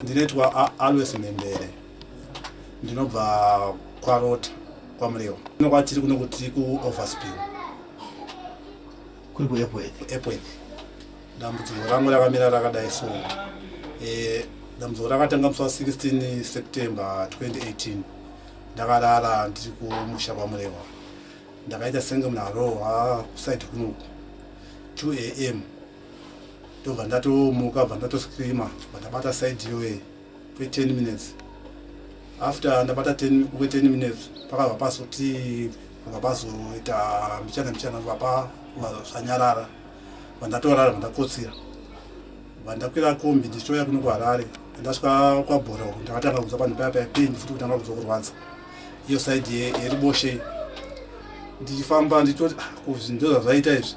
Ndinoitwa Always Mhembere ndinobva kwaRota kwaMurewa. Kuno kwatiri kuno kuti kuOverspill. Kuri kuEpworth. Epworth. Dambudziko rangu rakamira rakadai so. Eh dambudziko rakatanga musi wa 16 September 2018. Ndakarara ndiri kumusha kwaMurewa. Ndakaita senge munhu arohwa kusaidi kunoku. 2 am ndobva ndatomuka bva ndatoscreama bva ndabata side yoe kwe 10 minutes after ndabata kwe 10 minutes pakabva pazoti bva pazoita mbichana mbichana bva pa zvanyarara bva ndatorara bva ndakotsira bva ndakwira kombi ndichitouya kuno kuharare ndasvika kwabhora uku ndakatanga kunzwa panhu paya paya pain futi kutanga kunzwa kurwadza iyo side yeriboshei ndichifamba nditoti ah, kuzvi ndozvazvaita izvi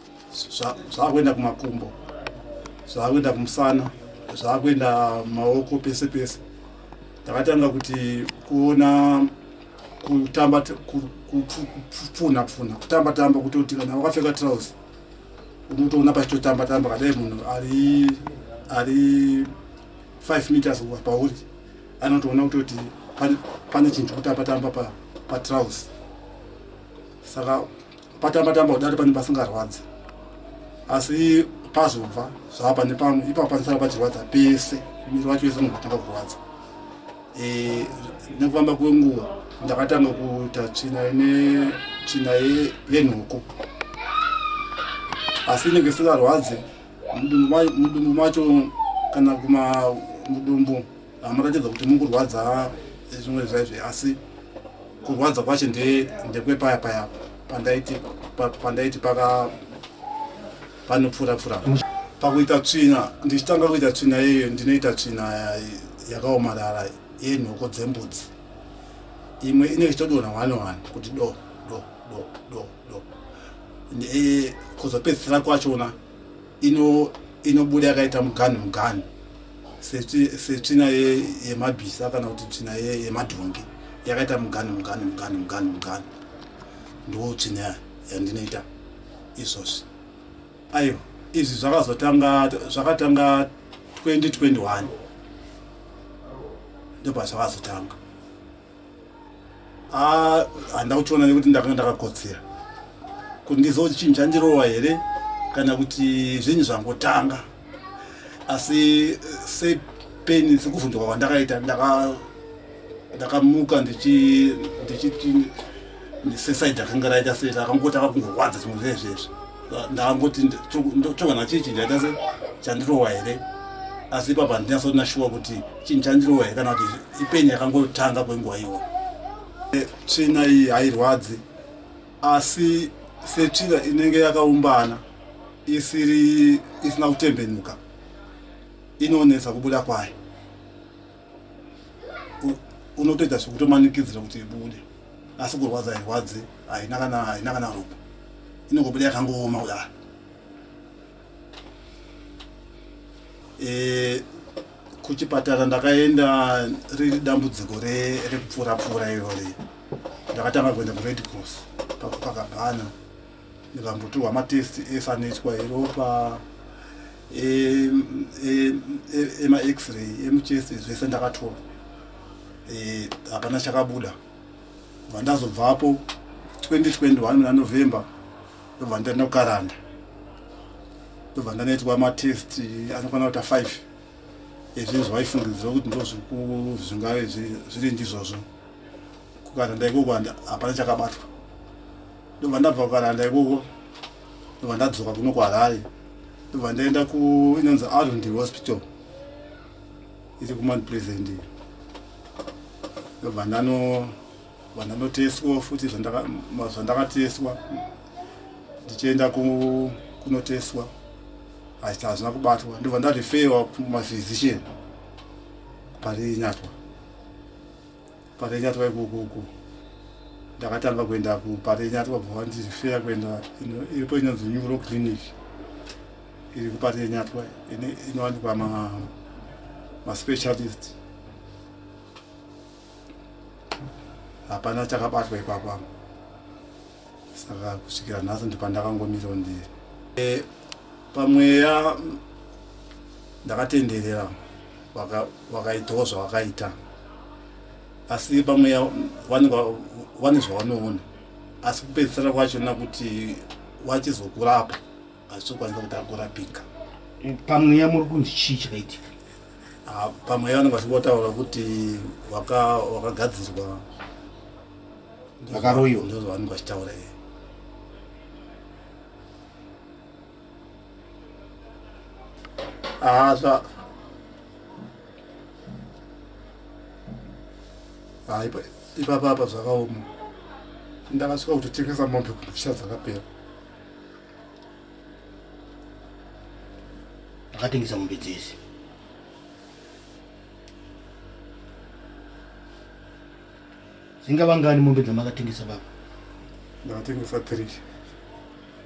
zvaakuenda kumakumbo zvaakuenda kumusana zvaakuenda maoko pese pese takatanga kuti kuona kutamba kupfunha pfunha kutamba tamba kutoti kana wakapfeka trouse unotoona pachitotamba tamba kadai munhu ari ari 5 meters kuva pauri anotoona kutoti pane chinhu chikutamba tamba patrouse saka patamba tamba kudari pane pasingarwadzi asi pazobva zvava pane pamwe ipapo panisara pachirwadza pese miri wacho wese unotanga kurwadza e, nekufamba kwenguva ndakatanga kuita tsvina ine tsvina yenhuku asi inenge isingarwadze mudumbu macho kana kuma mudumbu Munoratidza kuti mukurwadza zvimwe zvaizve asi kurwadza kwacho ndekwepaya paya pandaiti pandaiti paka panopfuura pfuura pakuita tsvina ndichitanga kuita tsvina iyoyo ndinoita tsvina yakaomarara yenhoko dzembudzi imwe inenge ichitodonha one one kuti do do do do do e, kuzopedzisira kwachona ino inobuda yakaita muganhu muganhu setsvina yemabhisa kana kuti tsvina yemadhongi yakaita muganhu muganhu muganhu muganhu muganhu ndo tsvina yandinoita izvozvi aiwa izvi zvakazotanga zvakatanga 2021 ndobva zvakazotanga Ah, handina kuchiona nekuti ndakanga ndakakotsira kuti ndizive kuti chinhu chandirowa here kana kuti zvinhu zvangotanga asi eh, sepeni sekuvhunduka kwandakaita ndaka- ndakamuka ndichi- ndichiti sesaidi akanga raita sei akangotanga kungorwadza zvimwe zvezvezvo ndakangoti chogana chii chinhu chaita se chandirowa here asi ipapa ndinasoti nashuwa kuti chinhu chandirowa here kana kuti ipeni yakangotanga kwenguva iwa e, tsvina iyi hairwadzi asi setsvina inenge yakaumbana isiri isina kutembenuka inonetsa kubuda kwayo unotoita sekutomanikidzira kuti ibude asi kurwadza hairwadze haina kana haina kana ropa inongobuda yakangooma kudaro eh, kuchipatara ndakaenda riri dambudziko rekupfuura pfuura irori ndakatanga kuenda kured cross pakukakabhana Vakambotorwa matest efanetwa eropa emax-ray emuchest zvese ndakatorwa e, hapana chakabuda kubva ndazobvapo 2021 muna november ndobva ndaenda kukaranda ndobva ndanoitwa matest anokwana kuita 5 ezvinhu zvavaifungidzira kuti ndozvingave zviri ndizvozvo kukaranda ikoko hapana chakabatwa ndobva ndabva kukananda ikoko ndobva ndadzoka kuno kuharare ndobva ndaenda kuinonzi arundi hospital iri kumount present ndobva ndano vandanoteswa futi zvandakateswa ndichienda kunoteswa achiti hazvina kubatwa ndobva ndarefewa kumaphysician pari nyatwa Parenyatwa ikoko uko ndakatanga kuenda kuparenyatwa bva vandizifeya kuenda iripo inonzi neuro clinic iri kuparenyatwa inowanikwa maspecialist ma hapana chakabatwa ipapa saka kusvikira nhasi ndipandakangomira ndiri e, pamweya ndakatenderera vakaitawo zvavakaita asi vamwe vane zvavanoona asi kupedzisira kwachona kuti wachizokurapa hazvichokwanisa kuti akurapika pamweya muri kunzi chii chakaitika ah, pamweya vanenge vachingotaura kuti wakagadzirwa vakaroyiwa ndozvavanenge vachitaura iye Asa. Ah, ipa ipa papa zvakaoma. Ndakasvika kuti tengesa mombe kuti fisha dzakapera. Akatengesa mombe dzese. Zingavangani mombe dzamakatengesa baba? Ndakatengesa 3.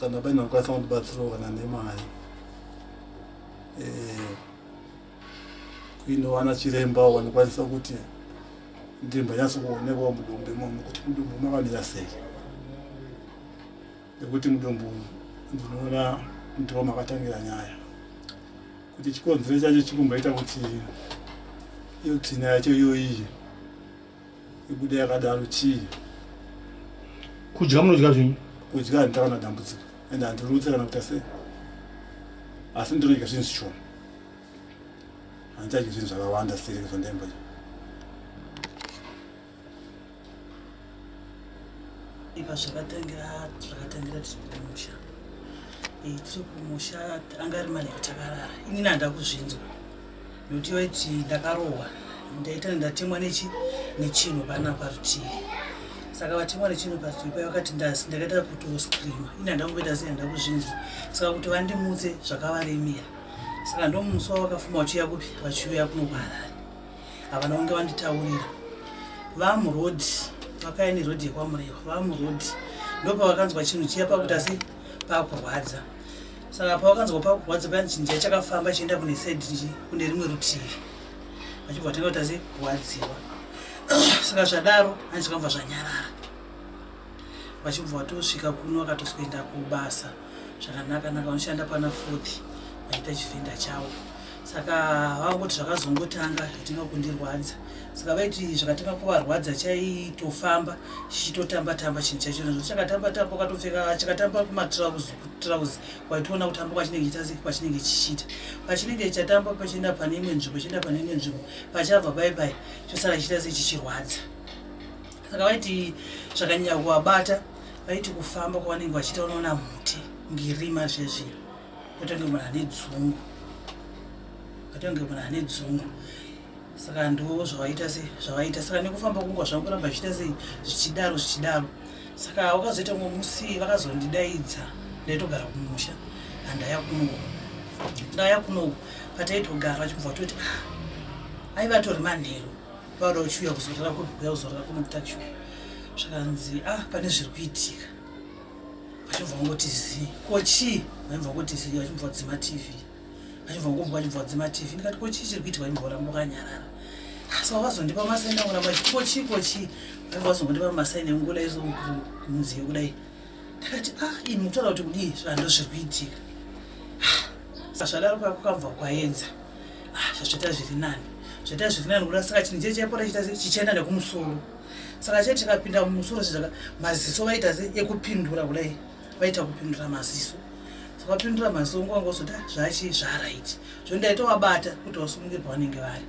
kana paine vakwanisa kundibatsirawo kana nemari eh, kuinowana chiremba wanikwanisa kuti ndimba nyatso kuonekwa mudumbu imomo kuti mudumbu makamira sei nekuti mudumbu ndinoona ndiwo makatangira nyaya kuti chikonzero chacho chikumboita kuti iyo tsina yacho iyoiyi ibude yakadaro chii kudya munodya zvenyu kudya handita kana dambudziko and handirutse kana kuita sei asi ndinodya zvinhu zvishoma handichadyi zvinhu zvakawanda sireke zvandaimba ipa zvakatangira zvakatangira tikumusha tiri kumusha anga ari mane kutakarara inini handa kuzvinzwa Nokuti waiti ndakarohwa ndaita ndatemwa nechi nechinhu pana parutivi saka vatemwa nechinhu parutivi paya vakati ndasi ndakaita kutoscreama ini handa kumboita sei handa kuzvinzwa saka kuti vandimutse zvakavaremera saka ndomusi wavakafuma vachiuya kupi vachiuya kuno kuharare havana kunge vanditaurira vamurodi vakaini rodi yekwamurewa vamurodi ndopavakanzwa chinhu chiya pakuti asi pakurwadza saka pawakanzwa pakurwadza paya chinja chakafamba chienda kune said kune rimwe rutivi vachibva vatanga kuti asi kurwadziwa saka zvadaro hanzi zvakamva zvanyarara vachibva vatosvika kuno vakatozoenda kubasa zvakanaka naka vanoshanda pana fourth vaita chivhenda chavo saka vava kuti zvakazongotanga zvatanga kundirwadza saka vaiti zvakatanga kuvarwadza chaitofamba chichitotamba tamba chinhu chacho nazvo chakatamba tamba ukatopfeka chakatamba kumatrauzi kutrauzi waitoona kutamba kwachinenge chitasi kwachinenge chichiita pachinenge chatamba pachienda pane imwe nzvimbo chienda pane imwe nzvimbo pachabva bai bai chosara chiita se chichirwadza saka vaiti zvakanyanya kuvabata vaiti kufamba kwavanenge vachiita unoona muti ngirima zvezvino Kutonge munhu ane dzungu. Kutonge munhu ane dzungu. Saka ndo zvawaita se zvawaita saka nekufamba kungwa zvangu kuramba zvichiita sei zvichidaro zvichidaro. Saka wakazoita umwe musi vakazondidaidza ndaitogara kumusha handaya kuno. Ndaya kuno pataitogara vachibva toti ah aiva tori manheru vauda uchiuya kuzorara kuno kuya kuzorara kuno kutakshu zvakanzi ah pane zviri kuitika. vachibva vangoti zii ko chii vaibva vangoti zii vachibva vadzima tv vachibva vangomva vachibva vadzima tv ndikati ko chii chiri kuitika vaibva varamba vakanyarara asi vavazondipa masaini akuramba chiti ko chii ko chii vaibva vazongondipa masaini engula izo munziyo kudai ndakati a ah, ini mukutaura kuti kudii zvando zviri kuitika ah, zvadaro kakukabva kwaenza ah, zvazvaita zviri nani zvaita zviri nani kuda saka chinhu chee chaipora chiita chichienda nekumusoro saka chete tikapinda mumusoro sezvaka maziso vaita se ekupindura kudai vaita kupindura maziso vakapindura maziso nguva ngozoti ah, zvachi zvaraiti zvo ndaitowabata kuti vasumuke pavanenge vari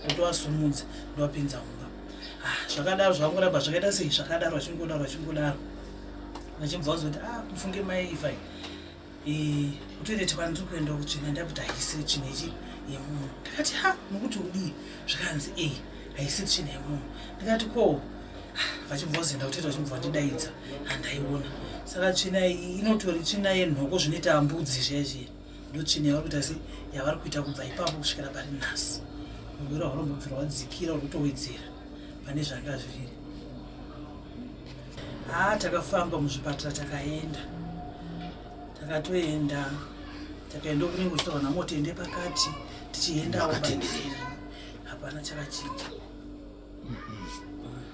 ndotowasumudza ndovapinza mumba ah, zvakadaro zvakangoramba zvakaita sei zvakadaro vachingodaro vachingodaro vachibva vazoti ah mufunge mai ifai Eh, kutoilet kwani tiri kuenda kutsvina ndakuti haisi tsvina ichi yemunhu ndakati ha nokuti udii zvikanzi e eh, haisi tsvina yemunhu ndikati ko vachimbozoenda kutoita vachimbova ndidaidza handaiona saka tsvina iyi inotori tsvina yenhoko zvinoita mbudzi zviyaizviya ndotsvina yavari kuita se yavari kuita kubva ipapo kusvikira pari nhasi muviri hwaunombobvira wadzikira uri kutowedzera pane zvanga zviri haa takafamba muzvipatara takaenda takatoenda takaenda kunenge kuchitaura namotende pakati tichiendawo hapana chakachinja mm-hmm.